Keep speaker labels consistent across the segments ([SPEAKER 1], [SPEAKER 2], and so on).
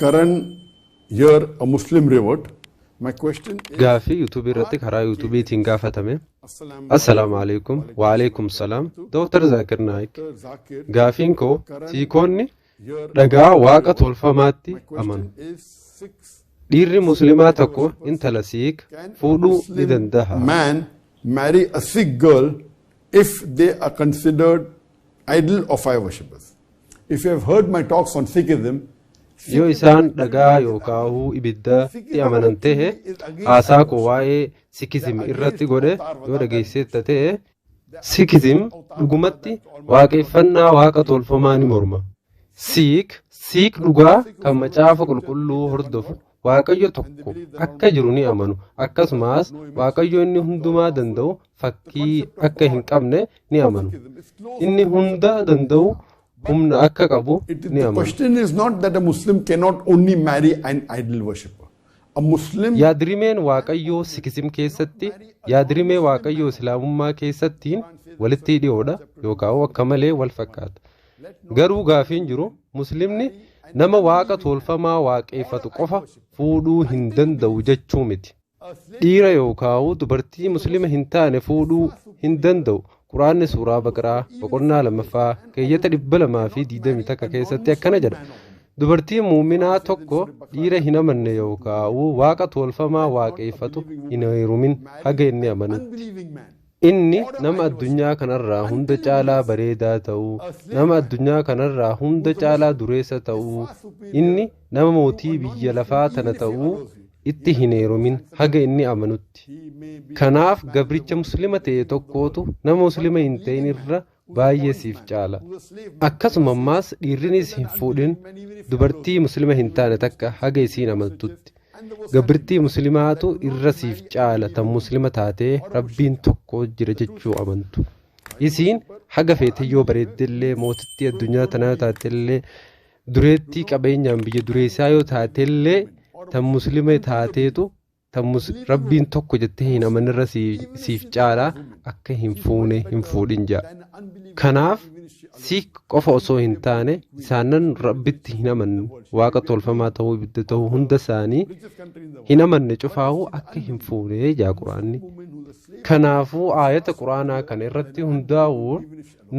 [SPEAKER 1] Karan you're a Muslim reward. My question is Gaaffii YouTube irratti
[SPEAKER 2] karaa YouTube tiin gaafatame. Assalaamu alaikum wa alaikum salaam. Dr. Zakir Naik. Gaafiin koo siikoonni dhagaa waaqa tolfamaatti amanu. Dhiirri muslimaa tokko intala siik fuudhuu ni danda'a. Man
[SPEAKER 1] marry a sick girl if they are considered idol of fire worshippers. If you have heard my talks on Sikhism, yoo isaan
[SPEAKER 2] dhagaa yookaahuu ibiddatti amanan ta'e haasaa koo waa'ee sikizim irratti godhe yoo dhageesseetta ta'e sikizim dhugumatti waaqeffannaa waaqa tolfamaa ni morma siik siik dhugaa kan macaafa qulqulluu hordofu Waaqayyo tokko akka jiru ni amanu akkasumas Waaqayyo inni hundumaa danda'u fakkii akka hin qabne ni amanu inni hunda danda'u humna akka qabu It, ni the amanu. question is not
[SPEAKER 1] that
[SPEAKER 2] a
[SPEAKER 1] Muslim cannot only marry an idol worshipper. A Muslim Yaadrimeen Waaqayyoo
[SPEAKER 2] Sikizim keessatti yaadrimee Waaqayyoo Islaamummaa keessattiin walitti dhiyoodha yookaan akka malee wal fakkaata. Garuu gaafiin jiru muslimni nama waaqa toolfamaa waaqeeffatu qofa fuudhuu hin danda'u jechuu miti. Dhiira yookaa'u dubartii muslima hin taane fuudhuu hin danda'u. Quraanni suuraa Baqaraa boqonnaa lamaffaa keeyyata dhibba lamaa fi digdamii takka keessatti akkana jedha. Dubartiin muuminaa tokko dhiira hin amanne yookaa'u waaqa toolfamaa waaqeeffatu hin heerumin haga inni amanutti. Inni nama addunyaa kanarraa hunda caalaa bareedaa ta'uu, nama addunyaa kanarraa hunda caalaa dureessa ta'uu, inni nama mootii biyya lafaa tana ta'uu itti hin heerumin haga inni amanutti. Kanaaf gabricha muslima ta'e tokkootu nama muslima hin ta'in irra baay'ee siif caala akkasuma ammaas dhiirrinis hin fuudhin dubartii muslima hin taane takka haga isiin amantutti gabrtii muslimaatu irra siif caala tan muslima taatee rabbiin tokko jira jechuu amantu isiin haga feete yoo bareeddellee mootittii addunyaa tanaa taatellee dureettii qabeenyaan biyya dureessaa yoo taatellee tan muslima taateetu Tammus rabbiin tokko jettee hin amanirra siif caala akka hin fuune hin fuudhin ja'a. Kanaaf siik qofa osoo hin taane isaannan rabbitti hin amanne waaqa tolfamaa ta'uu ibidda ta'uu hunda isaanii hin amanne cufaahuu akka hin fuune ja'a quraanni. Kanaafuu aayata quraanaa kana irratti hundaa'uun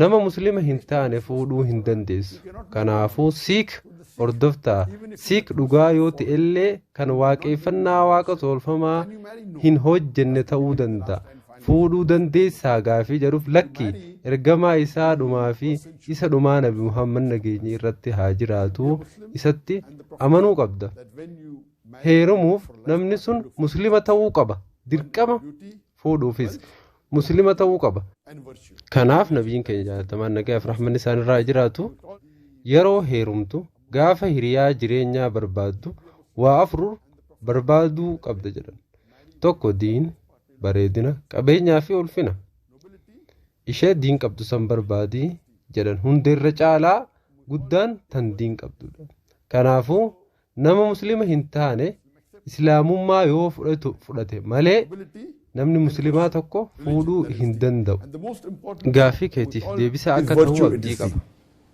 [SPEAKER 2] nama muslima hin taane fuudhuu hin dandeessu. Kanaafuu siik hordoftaa siik dhugaa yoo ta'ellee kan waaqeffannaa waaqa tolfamaa hin hojjenne ta'uu danda'a. Fuudhuu dandeessaa gaafii jedhuuf lakki ergamaa isaa dhumaa fi isa dhumaa nabi Muhammad nageenyi irratti haa jiraatu isatti amanuu qabda. Heerumuuf namni sun muslima ta'uu qaba. Dirqama fuudhuufis muslima ta'uu qaba. Kanaaf nabiin keenya jaalatamaan nagaaf rahmanni isaanirraa jiraatu yeroo heerumtu Gaafa hiriyaa jireenyaa barbaaddu waa afur barbaaduu qabda jedhan. Tokko diin, bareedina, qabeenyaa fi ulfina. Ishee diin qabdu san barbaadi jedhan hundeerra caalaa guddaan tan diin qabdudha. Kanaafuu nama muslima hin taane islaamummaa yoo fudhatu fudhate malee namni muslimaa tokko fuudhuu hin danda'u. Gaaffii keetiif deebisaa akka ta'u abdii qaba.